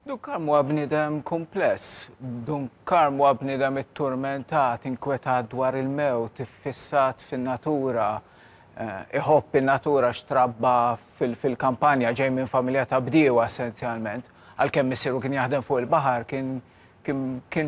Dun Karm huwa bniedem kumpless. Dun Karm huwa bniedem itturmentat, inkwetat dwar il-mewt, iffissat fin-natura. Iħobb in-natura għax trabba fil-kampanja, ġej minn familja ta' bdiewa essenzjalment. Għalkemm missieru kien jaħdem fuq il-baħar, kien kien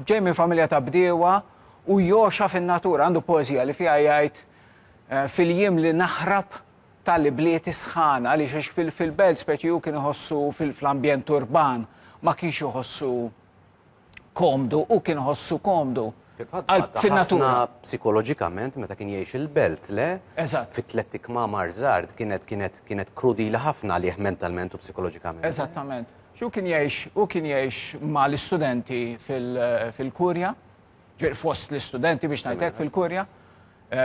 ġej minn familja ta' bdiewa u jogħxa fin-natura. Għandu poeżija li fiha jgħid, Fil-jiem li naħrab tal-ibliet is-sħana għaliex għax fil fil-belt speċi hu kien iħossu fl-ambjent urban ma kienx iħossu komdu, hu kien iħossu komdu. Fin-natura. Psikoloġikament meta kien jgħix il-belt, le? Eżatt. Fit-tlet ikmamar żgħar kienet kienet kienet krudila ħafna għalih mentalment u psikoloġikament. Eżattament. Xu kien jgħix u kien jgħix ma' l-istudenti fil-kurja, fost l-istudenti biex ngħidlek fil-kurja.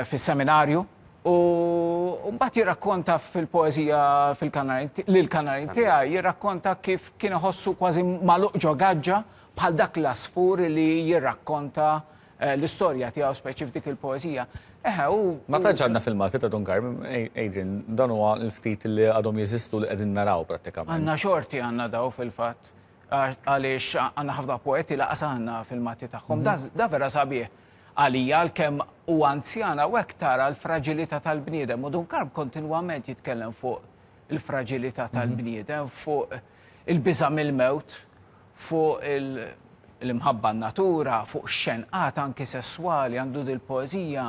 fis-seminarju u mbagħad jirrakkonta fil-poeżija lill-kanarin tiegħi jirrakkonta kif kien iħossu kważi magħluq ġo gaġġa bħal dak l-għasfur li jirrakkonta l-istorja tiegħu speċi f'dik il-poeżija. Eħe, u. Ma tantx għandna filmati ta' Don Karm, Adrian, dan huwa l-ftit li għadhom jeżistu li qegħdin naraw prattikament. Għandna xorti għandna daw fil-fatt għaliex għandna ħafna poeti laqas għandna filmati tagħhom. Da vera sabiħ. Għalija, għalkemm hu anzjan, hawnhekk tara l-fraġilità tal-bniedem u Dunkarm kontinwament jitkellem fuq il-fraġilità tal-bniedem, fuq il-biża' mill-mewt, fuq l-imħabba n-natura, fuq ix-xenqat anki sesswali, għandu dil-poeżija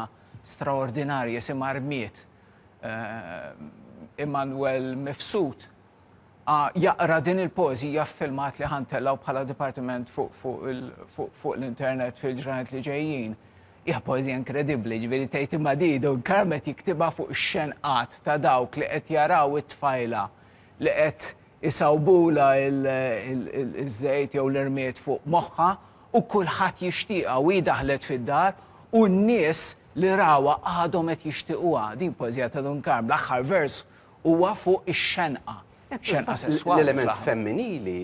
straordinarja jisimha Rmied. Immanuel Mifsud. A, Jaqra din il-poeżija f'filmat li ħa ntellgħu bħala dipartiment fuq l-internet fil-ġranet li ġejjin. Hija poeżija inkredibbli, jiġifieri tgħid imma di Don Carmet jiktibha fuq ix-xenqat ta' dawk li qed jaraw it-tfajla li qed isawbulha ż-żejt jew l-irmied fuq moħħha u kulħadd jixtieqha u hi daħlet fid-dar u n-nies li rawha għadhom qed jixtiequha. Din poeżija ta' Don Carm, l-aħħar vers huwa fuq ix-xenqa, xenqa sesswali. L-element femminili,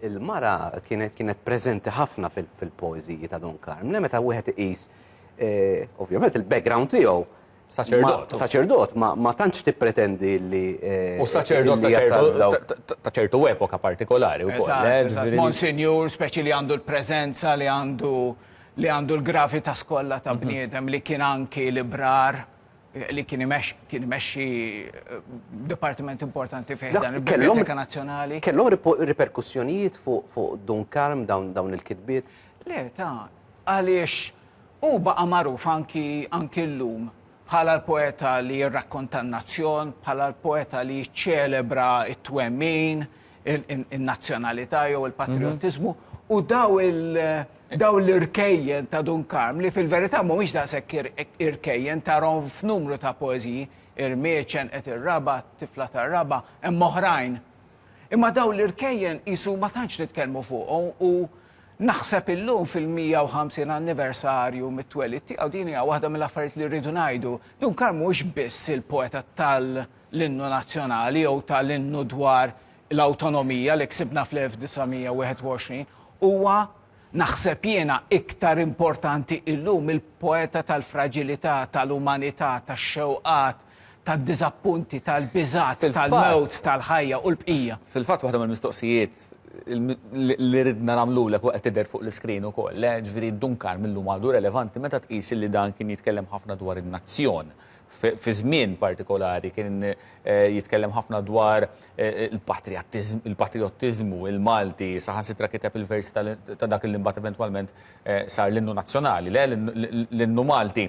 il-mara kienet kienet preżenti ħafna fil-poeżiji ta' Don Carmine meta wieħed iqis ovvjament il-background tiegħu Saċerdot. Saċerdot, ma tantx tippretendi li. Eh, u saċerdot ta' ċertu epoka partikolari u eh, Monsinjur, speċi li għandu l-prezenza, li għandu li għandu l-gravita skolla ta' mhm. bniedem li kien anki librar. li kien imexxi dipartiment importanti fih dan il-Biblioteca Nazzjonali. Kellhom riperkussjonijiet fuq Dun Karm dawn il-kitbiet? Le, ta' għaliex u baqa' magħruf anki anki llum bħala l-poeta li jirrakkonta n-nazzjon, bħala l-poeta li jiċċelebra t-twemmin, in-nazzjonalità jew il-patrijottiżmu u daw daw l-irkejjen ta' Dun Karm li fil-verità mhumiex daqshekk irkejjen tarhom f'numru ta' poeżiji irmieċen qed ir-raba, tifla tar-raba, hemm oħrajn. Imma daw l-irkejjen qisu ma tantx nitkellmu fuqhom u naħseb illum fil-150 anniversarju mit-twelid tiegħu din hija waħda mill-affarijiet li rridu ngħidu. Dun Karm mhuwiex biss il-poeta tal- l-innu nazzjonali jew ta' l-innu dwar l-awtonomija li ksibna fl-1921 huwa, naħseb jiena, iktar importanti illum mill-poeta tal-fraġilità, ta' l-umanità, tax-xewqat, tad-diżappunti, tal-biżgħat, tal-mewt, tal-ħajja u l-bqija. Fil-fatt waħda mill-mistoqsijiet li ridna nagħmlulek u qed tidher fuq l-iskrin ukoll, jiġifieri Duncan mil-lum għadu relevanti meta tqis li dan kien jitkellem ħafna dwar in-nazzjon fi żmien partikolari kien jitkellem ħafna dwar il-patrijottiżmu, il-Malti, saħansitra kiteb il-versi ta' dak li mbagħad eventwalment sar l-innu nazzjonali, le l-innu Malti.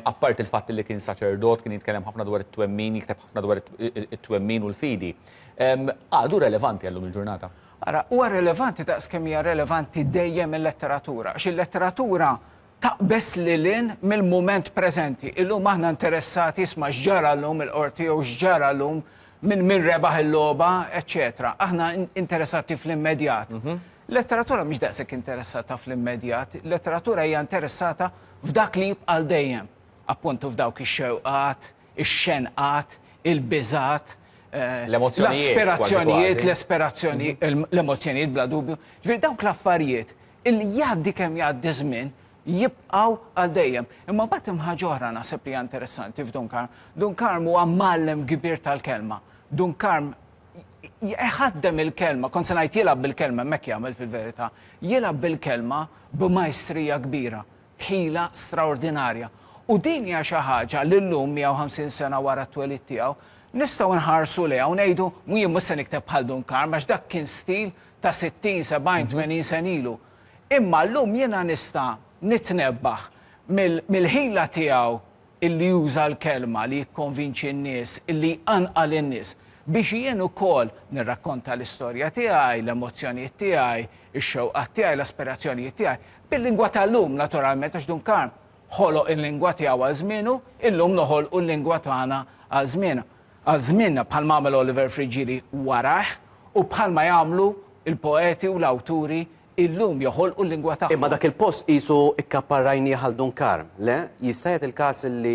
Apparti l-fatt li kien saċerdot, kien jitkellem ħafna dwar it-twemmin, jikteb ħafna dwar it-twemmin u l-fidi. Għadu relevanti għal lum il-ġurnata? Ara, huwa relevanti daqs kemm hija relevanti dejjem il-letteratura, għax il-letteratura taqbeż lil hinn mill-mument preżenti. Illum aħna interessati isma' x'ġara llum il-Qorti jew x'ġara llum min min rebaħ il-logħba, eċċetera. Aħna interessati fl-immedjat. Letteratura mhix daqshekk interessata fl-immedjat, letteratura hija interessata f'dak li jibqa' għal dejjem. Appuntu f'dawk ix-xewqat, ix-xenqat, il-biżgħat, l-aspirazzjonijiet, l-aspirazzjoni, l-emozzjonijiet bla dubju. Ġifieri dawk l-affarijiet Illi jgħaddi kemm jgħaddi ż-żmien, jibqgħu għal dejjem. Imma mbagħad hemm ħaġa oħra naħseb li hija interessanti f'Dun Karm. Dun Karm huwa mgħallem kbir tal-kelma. Dun Karm jħaddem il-kelma, kont se ngħid jilgħab bil-kelma, imma hekk jagħmel fil-verità, jilgħab bil-kelma b'majstrija kbira, b'ħila straordinarja. U din hija xi ħaġa li llum, 150 sena wara t-twelid tiegħu, nistgħu nħarsu lejha u ngħidu, jien mhux se nikteb bħal Dun Karm għax dak kien stil ta' sittin, sebgħin, tmenin sena ilu. Imma llum jiena nista' nitnebbaħ mill-ħila tiegħu illi juża l-kelma li jikkonvinċi n-nies, illi jqanqal in-nies, biex jien ukoll nirrakkonta l-istorja tiegħi, l-emozzjonijiet tiegħi, ix-xewqat tiegħi, l-aspirazzjonijiet tiegħi, bil-lingwa tal-lum, naturalment, għax Dun Karm ħoloq il-lingwa tiegħu għal żmienu, illum noħolqu l-lingwa tagħna għal żmienna. Għal żmienna, bħalma għamel Oliver Friggieri warajh u bħalma jagħmlu l-poeti u l-awturi illum joħolqu l-lingwa tagħhom. Imma dak il-post qisu kkapparrajnieh għal Dun Karm, le? Jista' jagħti l-każ li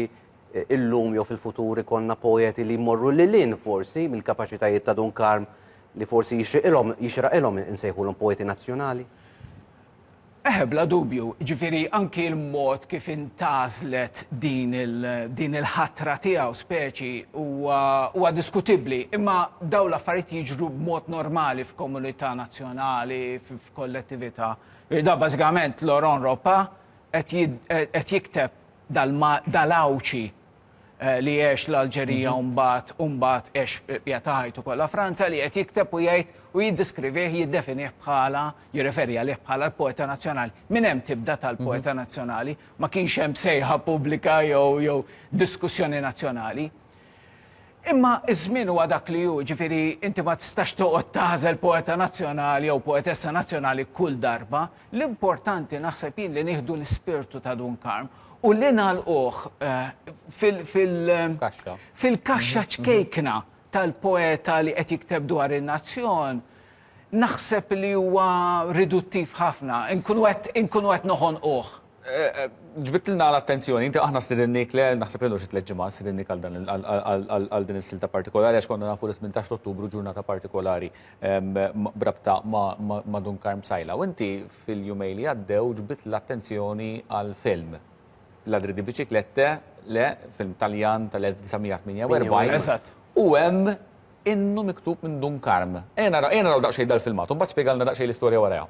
llum jew fil-futur ikollna poeti li jmorru lil hinn forsi mill-kapaċitajiet ta' Dun Karm li forsi jixriqilhom jixraqilhom insejħulhom poeti nazzjonali? Eħe, bla dubju, jiġifieri anki l-mod kif intgħażlet din din il-ħatra tiegħu speċi huwa huwa diskutibbli, imma dawn l-affarijiet jiġru b'mod normali f'komunità nazzjonali, f'kollettività. Jiġifieri dan bażikament Laurent Ropa qed qed jikteb dal-Għawdxi eh, li għex l-Alġerija mhm. mbagħad u mbagħad għex eh, ta' ħajtu kollha Franza li qed jikteb u jgħid u jiddiskrivih jiddefinih bħala jirreferi għalih bħala l-poeta nazzjonali. Min hemm tibda tal-poeta mhm. nazzjonali ma kienx hemm sejħa pubblika jew jew diskussjoni nazzjonali. Imma ż-żmien huwa dak li hu, jiġifieri inti ma tistax toqgħod tagħżel poeta nazzjonali jew poetessa nazzjonali kull darba. L-importanti naħseb jien li nieħdu l-ispirtu ta' Dun Karm u li nagħlquh fil-kaxxa ċkejkna tal-poeta li qed jikteb dwar in-nazzjon, naħseb li huwa riduttiv ħafna, inkunu qed noħonquh. Ġbidtilna l-attenzjoni, inti aħna stidinniek le, naħseb ilu xi tliet ġimgħat, stidinniek għal dan għal din is-silta partikolari għax konna nafu li tmintax ta' Ottubru ġurnata partikolari b'rabta ma' Dun Karm Sajla. U inti fil-jumejn li għaddew ġbidt l-attenzjoni għal film, Ladri di Biciclette, le, film Taljan tal-1948, u hemm innu miktub minn Dun Karm. Ejja naraw daqsxejn dal-filmat u mbagħad spjegalna daqsxejn l-istorja warajha.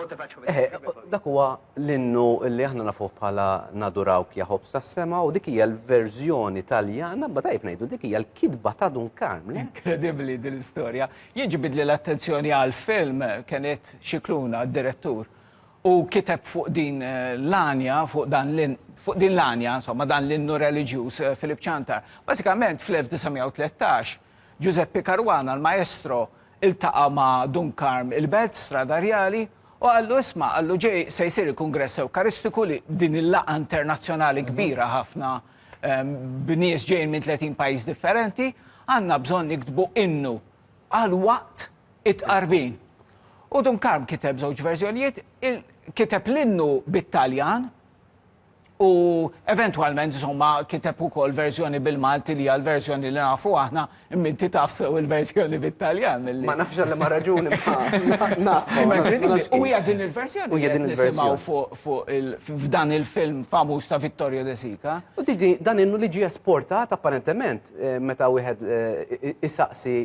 Eħe, dak huwa l-innu li aħna nafuh bħala naduraw kjaħob sa' sema u dik hija l-verżjoni taljana, ba tajb ngħidu dik hija l-kidba ta' Dun Karm. Inkredibbli din l-istorja. Jien ġibidli l-attenzjoni għal film kienet xikluna d-direttur u kiteb fuq din l-għanja, fuq dan l-in, fuq din l-għanja, insomma, dan l-innu reliġjuż Filip Ċantar. Bażikament fl-1913 Ġużeppi Caruana, l-Maestro, iltaqa' ma' Dun Karm il-Belt, Strada Rjali, u qallu, Isma', qallu, ġej se jsir il-Kungress Ewkaristiku li b'din il-laqgħa internazzjonali kbira ħafna b'nies ġejjin minn tletin pajjiż differenti, għandna bżonn niktbu innu għal waqt it-tqarbin. U Dun Karm kiteb żewġ verżjonijiet, kiteb l-innu bit-Taljan, U eventwalment insomma kiteb ukoll verżjoni bil-Malti li hija l-verżjoni li nafu aħna, imma inti taf sew il-verżjoni bit-Taljan milli. Ma nafx għal ma raġuni U hija din il-verżjoni li qed nisimgħu fuq f'dan il-film famuż ta' Vittorio De Sica. U dan innu li ġie esportat apparentement meta wieħed isaqsi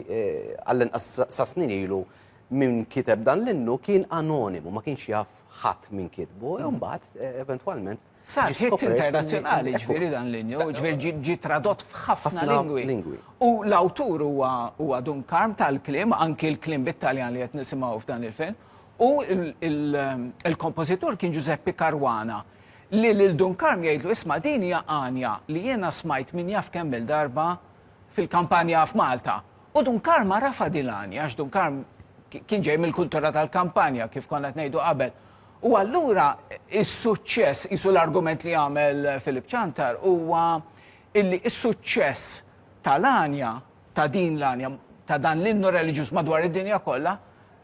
għall-inqas sa snin ilu min kiteb dan l-innu kien anonimu, ma kienx jaf ħadd min kitbu, u mbagħad eh, eventwalment. Sar ħitt internazzjonali ġifieri dan l-inju, ġifieri ġi tradott f'ħafna lingwi. U l-awtur huwa Dun Karm tal-klim, anki l-klim bit-Taljan li qed nisimgħu f'dan il-film. U il-kompożitur kien Giuseppe Caruana li lil Dun Karm jgħidlu isma' din hija għanja li jiena smajt min jaf kemm darba fil-kampanja f'Malta. U Dun Karma rafa' din l-għanja, għax Dun Karm kien ġej mill-kultura tal-kampanja, kif konna qed ngħidu qabel. U allura is-suċċess, qisu l-argument li għamel Filip Ċantar, huwa illi s-suċċess tal-għanja, ta' din l-għanja, ta' dan l-innu reliġjuż madwar id-dinja kollha,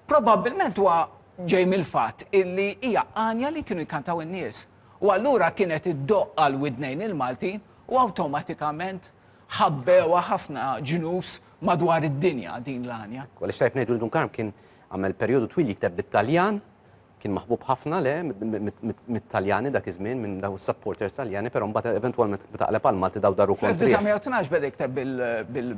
probabbilment huwa ġej mill-fatt illi hija għanja li kienu jkantaw in-nies. U allura kienet iddoqqa l-widnejn il-Maltin u awtomatikament ħabbewha ħafna ġnus madwar id-dinja din l-għanja. Ekku, għaliex tajjeb ngħidu li Dun Karm kien għamel perjodu twil jikteb bit-Taljan, kien maħbub ħafna le mit-Taljani dak iż-żmien, minn daw is-supporters Taljani, però mbagħad eventwalment meta qleb għall-Malti daw daru kontrih. Fl-1912 beda jikteb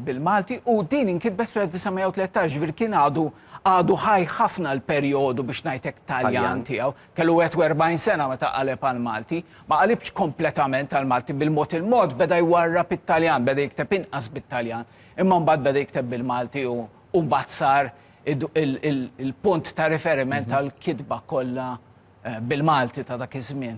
bil-Malti u din inkitbet fl-1913, ġifieri kien għadu għadu ħaj ħafna l-perjodu biex ngħid hekk Taljan tiegħu. Kellu 41 sena meta qaleb għall-Malti. Ma qalibx kompletament għall-Malti, bil-mod il-mod beda jwarrab it-Taljan, beda jikteb inqas bit-Taljan, imma mbagħad beda jikteb bil-Malti u u mbagħad sar id- il- il- il-punt ta' riferiment għall-kitba kollha eh, bil-Malti ta' dak iż-żmien.